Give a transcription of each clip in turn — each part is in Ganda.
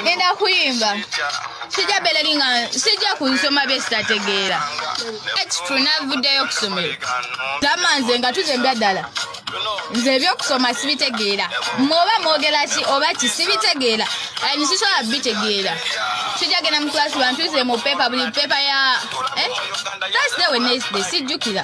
ngenda kuyimba sijja belali nga sijja ku nsoma bye sitategeera ekitu navuddeyo okusomero gamba nze nga tuze mbya ddala nze ebyokusoma sibitegeera mwoba mwogera ki oba ki sibitegeera ani sisobola bitegeera sijja genda mu kulasi bantuze mu pepa buli pepa ya eh? thursday wenesday sijjukira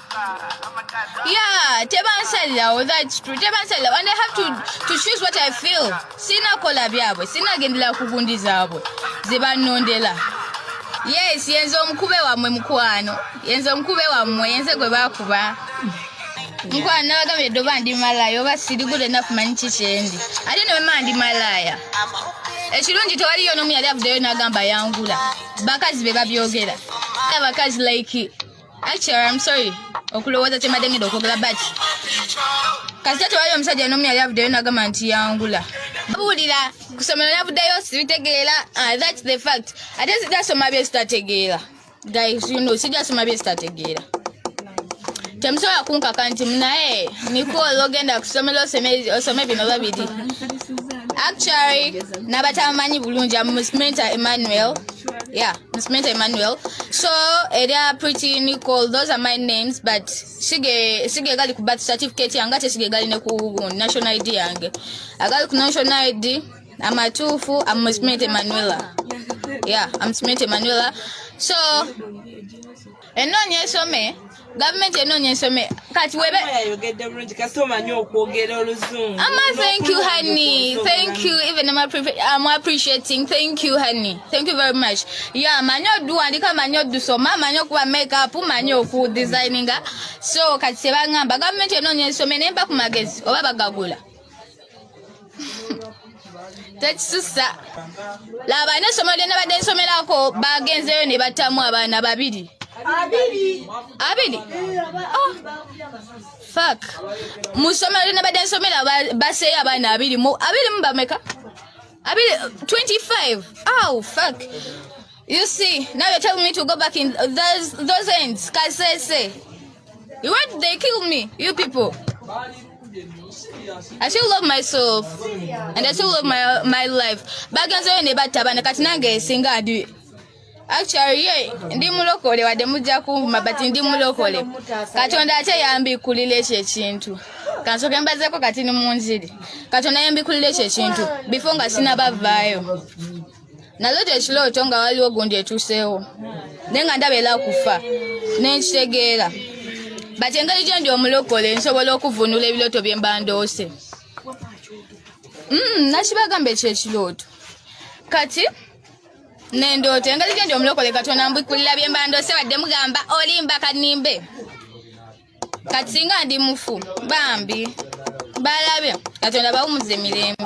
Yeah, tebansalirawo that's true. Tebansalirawo and I have to to choose what I feel. Sina kola byabwe, sina gendela kugundi zabwe. Zibanondela. Yes, yenze omukube wamwe mukwano. Yenze omukube wamwe, yenze gwe bakuba. Mukwano nabagambye doba ndi malaya oba siri good enough manyi kikyendi. Ate ne mama ndi malaya. Ekirungi tewaliyo n'omu yali avuddeyo n'agamba yangula. Bakazi be babyogera. Abakazi like Actually, I'm sorry. Okulowooza kyembadde ngenda okwogera but kasita tewali omusajja n'omu yali avuddeyo nagamba nti yangula buwulira kusomero navuddeyo sibitegeera ah, thats the fact ate sijasoma bye sitategeera guys you know sijasoma bye sitategeera temusobola kunkaka nti naye nikol ogenda kusomero osome bino babiri actually nabatamanyi bulungi amusmenta emmanuel yeah Smith Emmanuel. So area pretty Nicole, those are my names, but sige sige gali ku birth certificate yanga te sige gali ne ku national ID yange. Agali ku national ID amatufu I'm Smith Emmanuel. Yeah, I'm Smith Emmanuel. So enonye some gavumenti enoonya ensome kati webeyayogedde bulungi kasi omanyi okwogera oluzungu ama thank you honey thank you even am um, appreciating thank you honey thank you very much ya manyi oduwandika manyi odusoma manyi okuba makeup manyi okudesigninga so kati sebangamba gavumenti enoonya ensome nemba ku magezi oba bagagula tekisusa laba ine esomero lyona badde nsomerako bagenzeyo ne batamu abaana babiri abiri oh. fak mu somero lyona badde nsomera baseeyo abaana abiri mu abiri mu bameka abiri 25 aw fak you see now you're telling me to go back in those, those ends kasese You wait, they kill me, you people. I still love myself and I still love my my life. Bagenze yo ne batabana kati nange singa adi. Actually ye ndi mulokole wade mujja kumba but ndi mulokole. Katonda ate yambi kulile ekyo ekintu. Kansoke mbazeko kati ni munziri. Katonda yambi kulile ekyo ekintu before nga sinabavaayo. naloota ekirooto nga waliwo gundi etuuseewo naye nga ndaba era kufa nenkitegeera but engeri gyendi omulokole nsobola okuvunula ebirooto bye mba ndoose mm, nakibagamba ekyekirooto kati nendoota engeri gyendi omulokole katonda mbikkulira bye mba ndoose wadde mugamba olimba kanimbe kati singa ndi mufu bambi balabe katonda bawumuza emirembe